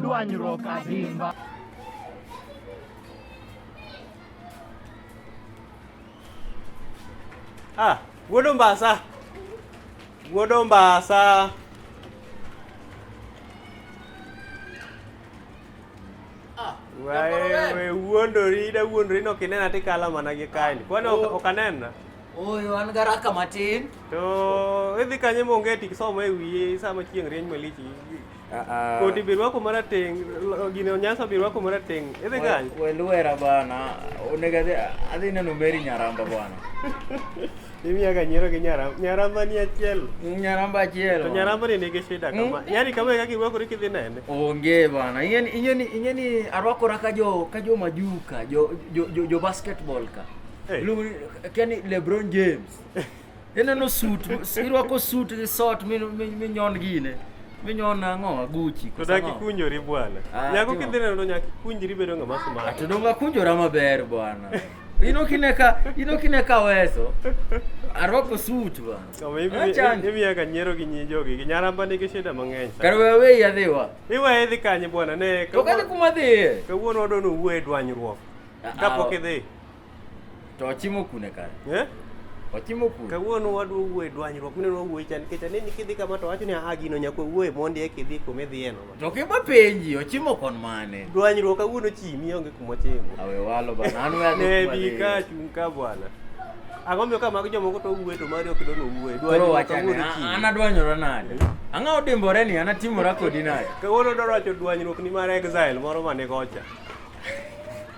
Dwanyruok adimba. Ah, wuod Ombasa. Wuod Ombasa. Ah, Wewe wuondori da wuondori no kinena tikala mana gi kaini. Kwani ok oh. ok anena? Oyo an garaka matin. To idhi kanye monge tik somo e wiye sama chieng' rieny malich Ah, ah. Kodi bi rwako marateng, gino nyasa bi rwako marateng. Idhi gany? We luera bana, onego adhi adhi neno Mary Nyaramba bwana. Imiya ga nyiero gi nyaramba. Nyaramba ni achiel. Mm, nyaramba achiel. To nyaramba ni nigi shida mm. kama. Yaani kama kaka irwakori kidhi nene. Onge bana. Ingeni ingeni ingeni arwakora ka jo ka jo majuka, jo jo jo, jo basketball ka. Hey. Kani LeBron James. Ineno suit, irwako suit gi sot minyon gine. Minyon ang'o aguchi. To daki kunjori bwana. Ah, nyako kidhi neno nyaki kunjri bedo ng'ama smart. Ah, to donga kunjora maber bwana. Ino kineka, ino kineka weso. Arwako suit bwana. Kama hivi hivi ya kanyero gi nyijo gi nyaramba nigi shida mang'eny. Kar we we yadhiwa. Iwa edhi kanye bwana ne. To kale kuma dhiye. Kawuono odonu wuo e dwanyruok. Ah, Kapok idhi. To ochimo kune kare? Eh? Ochimo kune? Kawuono wadwo wuoye dwanyruok mine wadwo wuoye chan nikech aneni kidhi kama to wacho ni aha gino nyako wuoye mondi e kidhi kuma idhiye no. To kima penji ochimo kon mane? Dwanyruok kawuono chimi onge kuma chimo. Awe walo bana an we Ne bi ka chung ka bwana. Ang'o miyo ka mago jomoko to wuoye to mari ok dono wuoye. Dwanyruok kawuono chimi. An adwanyora nade? Ang'o odimbore ni an atimora kodi nade? Kawuono dwaro wacho dwanyruok ni mar exile moro mane kocha.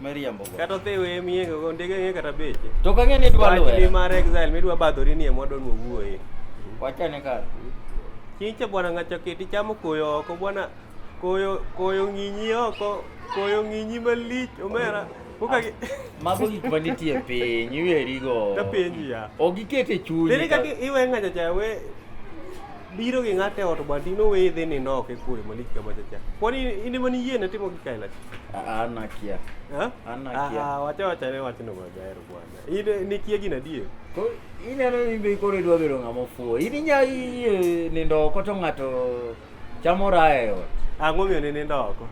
Miriambo go. Kata othewe e miye go ndege ng'e kata beche. To ka ng'e ni dwa luwe. Wachni mar exile midwa badhori ni e mwadwa ni wuoye. Wachane kar. Chinche bwana ng'acha keti chamo koyo oko bwana koyo koyo ng'inyi oko koyo ng'inyi malich omera. Kuka gi ah, mago gik ma nitie piny iweri go. Ta piny ya. Ogikete chunyi. Dere ka iwe ng'acha cha we biro gi ng'ate ot bwa tino weye dhi ni nok e kwe malik kama chacha kwani in ema ni yiene timo gi kaila ana kia ana kia ah wacha wacha ne wacha no maber bwana in ni kia gina die ko in ero ni be kore dwa bedo ng'ama fuo in nya yie nindo oko to ng'ato chamo raha e ot ang'o miyo ni nindo oko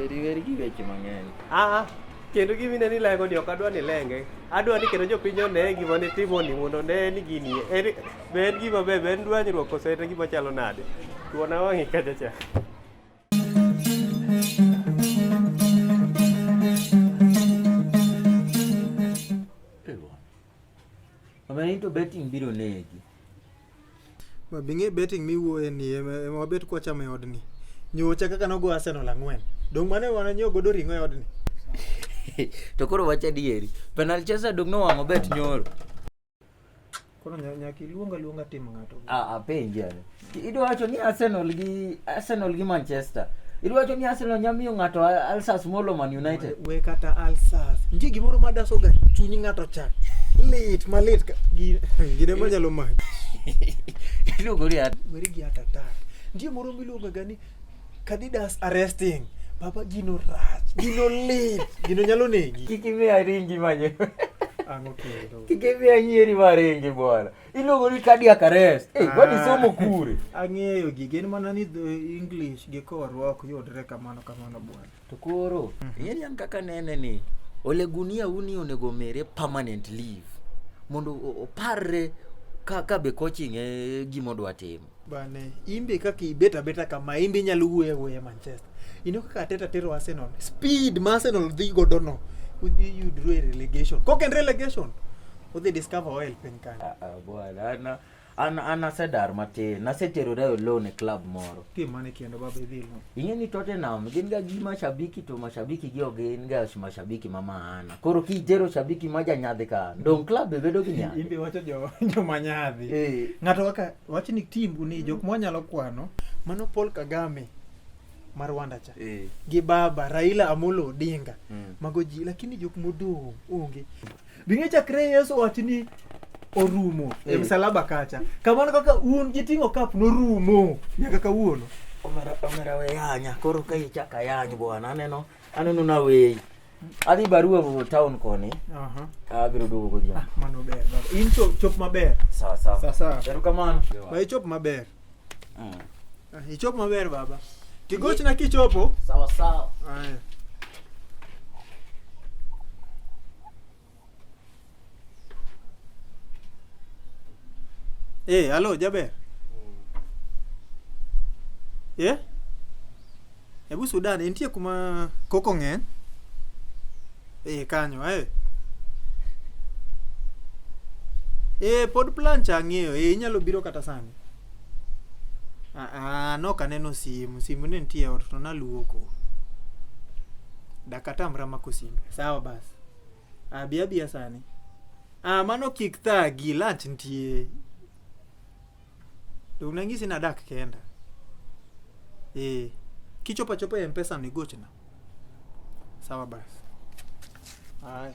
eri eri gi weche mang'eny ah, ah. kendo gima ineno ilengo ni ok adwa ni ilenge adwa ni kendo jopiny one gima nitimoni mondo one ni gini en- be en gima ber be en dwanyruok kose en gima chalo nade tuona wang'i kacha cha Omena into betting biro negi. Ma bing'e betting miwuoye ni ema ema wabet kwa chama e odni. Nyocha kaka nogo Arsenal ang'wen. Dong' mane wana nyo godo ring'o e odni. to koro wach adieri. Penal Chelsea dong' nowang'o bet nyoro. Koro nya- nyaka iluonga luonga tim ng'ato. Ah, apenje. Idwa wacho ni Arsenal gi Arsenal gi Manchester. Idwa wacho ni Arsenal nya miyo ng'ato Alsas molo Man United. We kata Alsas. Nitie gimoro ma daso ga chuny ng'ato cha. Lit malit ka- gi Gine ma nyalo mach. Iluongo ni at- weri gi atata. Nitie moro miluongo ga ni Cadidas arresting. Baba gino rach, gino lit, gino nyalo negi. kik imiya ringi manyo. Ang'o kendo? Kik imiya nyieri ma ringi bwana. iluongo ni cardiac arrest eh hey, wadi ah. somo kure ang'eyo gige en mana ni eh, english gi korwa ok yudre kamano kamano bwana to koro mhm. ing'e ni kaka nene ni ole gunia uni onego mere permanent leave mondo oparre ka ka be coaching e gima odwa timo bane imbe kaka ibet abeta kama imbe inyalo wuoyo awuoya manchester ino kaka ateta tero arsenal speed ma arsenal dhi godo no udhi yudru e relegation kok en relegation udhi discover oil piny kanyo Ah, ah, bwana ana an, an asedar matin naseterore olone e club moro tim mane kendo baba idhi lo ing'e ni tottenham gin ga gi mashabiki to mashabiki gi ok gin ga mashabiki ma maana koro kitero shabiki ma janyadhi ka dong club be bedo gi nyadhi imbe wacho jo joma nyadhi eh. ng'ato kaka wach ni tim ni jok ma wanyalo kwano mano Paul Kagame ma Rwanda cha eh. gi baba Raila Amolo Odinga mm. mago ji lakini jok modong onge bing'e chakre Yesu wach ni orumo e eh. msalaba kacha kamano kaka un giting'o kap norumo nyaka kawuono omera omera we yanya koro ka ichaka yany bwana aneno aneno na weyi adhi barua go town koni Aha. abiro duogo godhiambo Ah, mano ber baba. In chop, chop maber. sawa sawa Sawa sawa. erokamano Ba ichop maber. Mm. Ah, Ichop maber baba. Tigochna kichopo. sawa sawa Aya. Eh, alo Jaber. Eh? Ebu Sudan intie kuma koko ng'eny. Eh, kanyo eh. Eh, pod plan cha ng'eyo. Eh, inyalo biro kata sani. Ah, ah, nok aneno simu. Simu ne nitie e ot to naluoko. Dakatamra mako simbe. Sawa basi. Abi abi asani. Ah, mano kik thagi, lunch nitie. To unangisi na dak kenda. Eh, kichopa chopa ya mpesa ni gochna. Sawa basi. Haya.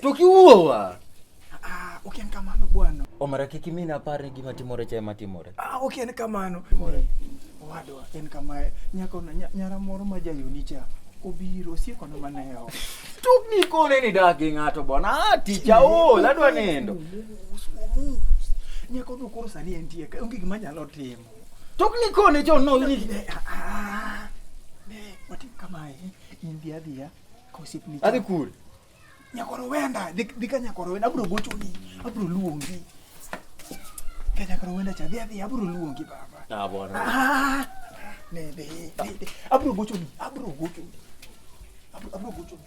Tukiuoa. Ah, okay, kamano bwana. Omara kiki mina pare gima timore cha ema timore. Ah, okay, en kamano. Timore. Owadwa, en kamae. Nyako na nyara moro ma jayoni cha. Obiro sieko na mana yao. Tuk ni kone ni dagi ng'ato bwana. Ah, ticha o, ladwa nindo. Nyako no koro sani entie. Onge gima nyalo timo. Tuk ni kone jo no ni. Ah, ah, ah. Ne, watim kamae. India dia. Osiepni. Adhi kur. Nyakoro wenda, dhi ka nyakoro wenda abro gochoni, abro luongi. Ka nyakoro wenda cha dhi adhi abro luongi baba. Ah bwana. Ah. Ne be. Abro gochoni, abro gochoni. Abro abro gochoni.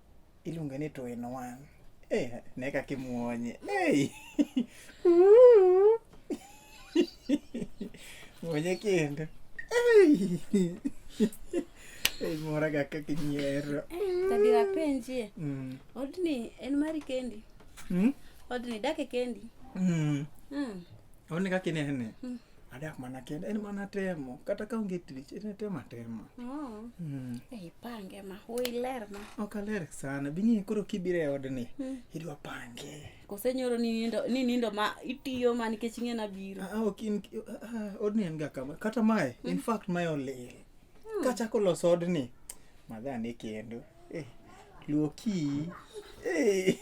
Iluonge ni two in one. Eh, ne kaka imuonye. Hey. muonye kendo. Hey. Hey, mora ga kaka inyiero. Tadi wapenjie. Mm. Odni en mari kendi. Mm? Odni dake kendi. Mm. Mm. Odni kaka inene. Mm. adak mana kenda en mana temo kata ka onge tich en tema tema oh. mm. eh, ipange ma iler ma ok aler sana bing'e koro kibiro e odni mm. idwa pange kose nyoro ni nindo, ni nindo ma itiyo ma nikech ing'e na biro ah, ok in ah, odni en ga kama kata mae mm. in fact mae olil mm. kachako loso odni madha ne kendo eh, luoki eh.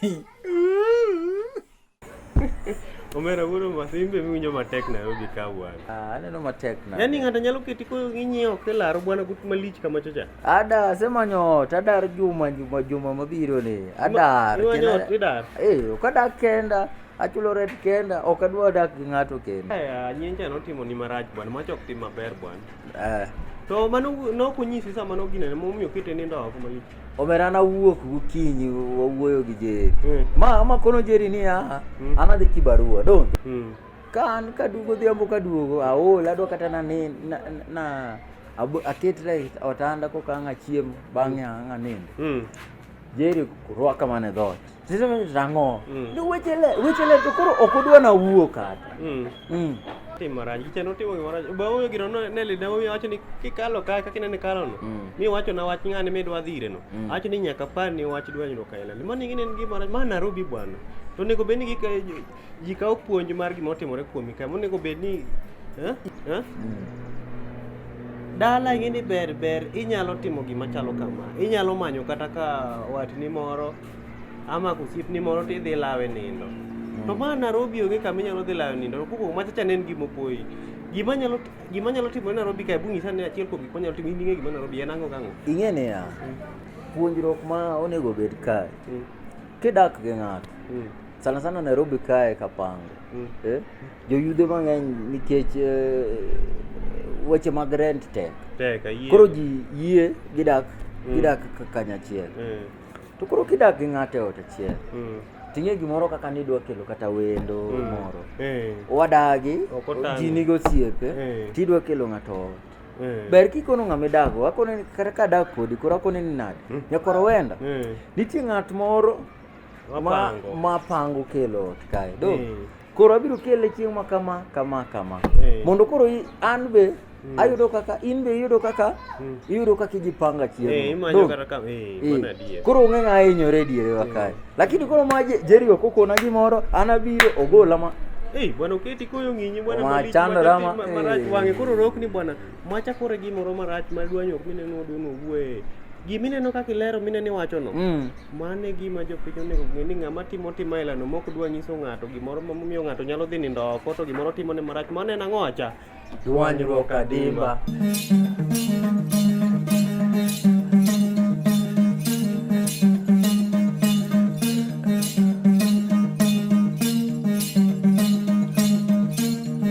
Omera wuoro mas imbe miwinjo matek Nairobi ka bwana. Ah, aneno matek na. Yaani ng'ato nyalo keti ko ng'inyi ok e laro bwana gut malich kama chocha. Ada asemanyo ot, adar juma juma juma mabiro ni. Adar. Imanyo kena- ot idar. Eh, ok adak kenda, achulo rent kenda, ok adwa dak gi ng'ato kenda. Aya nyenja notimo ni marach bwana, mach ok tim maber bwana. Eh. To mano nokonyisi sama noginene momiyo kete nindo oko malich. omera nawuok gokinyi wawuoyo gi jeri hmm. ma amakono jeri niya hmm. anadhi kibarua donge hmm. ka an kaduogo dhiambo kaduogo aol adwa kata nani na aketre otanda koka ang' achiem bang'e ang' anindo jeri rwaka mana e dhoot Rang'o? Mm. Ni weche le, weche le to koro ok odwa na wuo kata. Mm. Mm. Timo raj, kiche no timo gimoro. Ba wuyo gino no ne lida wuyo wacho ni kikalo ka kaka inene kalo no. Mm. Mi wacho na wach ng'ani mi dwa dhire no. Mm. Wacho ni nyaka par ni wach dwa nyuka ila. Limo ni ngine ngi mara ma Nairobi bwana. To nego beni gi ji kawo puonj mar gima otimore kuomi ka. Monego beni eh? Eh? Mm. dala ing'e ni ber ber inyalo timo gima chalo kama inyalo manyo kata ka watni moro ama kusipni moro to idhi lawe nindo mm. to ma Nairobi onge kama inyalo dhi lawe nindo kuko ma chacha nen gimo poyi gima nyalo gima nyalo timo Nairobi kae bungi sani achiel kuom gik ma nyalo timo ing'e gima Nairobi en ang'o kang'o ing'e ni ya mm. puonjruok ma onego bed kae mm. kidak gi ng'ato mm. sana sana Nairobi kae kapango mm. eh? joyudhe mang'eny nikech eh, weche mag rent tek koro ji yie gidak mm. gidak kanyachiel mm. To koro kidak gi ng'ato e ot achiel, mm. ting'e gimoro kaka ni idwa kelo kata wendo mm. moro. Eh. Wadagi, ji nigo osiepe, eh. tidwa kelo ng'ato ot. Eh. Ber kikono ng'ama idago, akone ni kata ka adak kodi, koro akone ni nade? Mm. Nyakoro wenda. Nitie ng'at moro ma pango kelo ot kae. Do? Koro abiro kele chieng' ma kama kama kama. Hey. Mondo koro an be mm. ayudo kaka in be iyudo kaka mm. iyudo kaka ijipanga chiemo hey, imanyo kata kama hey, hey. Mana diye. koro ong'e ng'a hinyore diere wa kae hmm. lakini koro ma Jerry ok okona gimoro an abiro ogola ma hey, bwana uketi koyo ng'inyi bwana mali chandora ma hey. marach wang'e koro rok ni bwana Macha kore gimoro marach ma dwanyo ok mineno odono wuoye. Gima ineno kaka ilero mineno iwachono, Mm. mano e gima jopiny onego ong'e ni ng'ama timo timo ailano mok dwa nyiso ng'ato gimoro ma momiyo ng'ato nyalo dhi nindo oko to gimoro timone marach mano en ang'o acha? Dwanyruok adimba.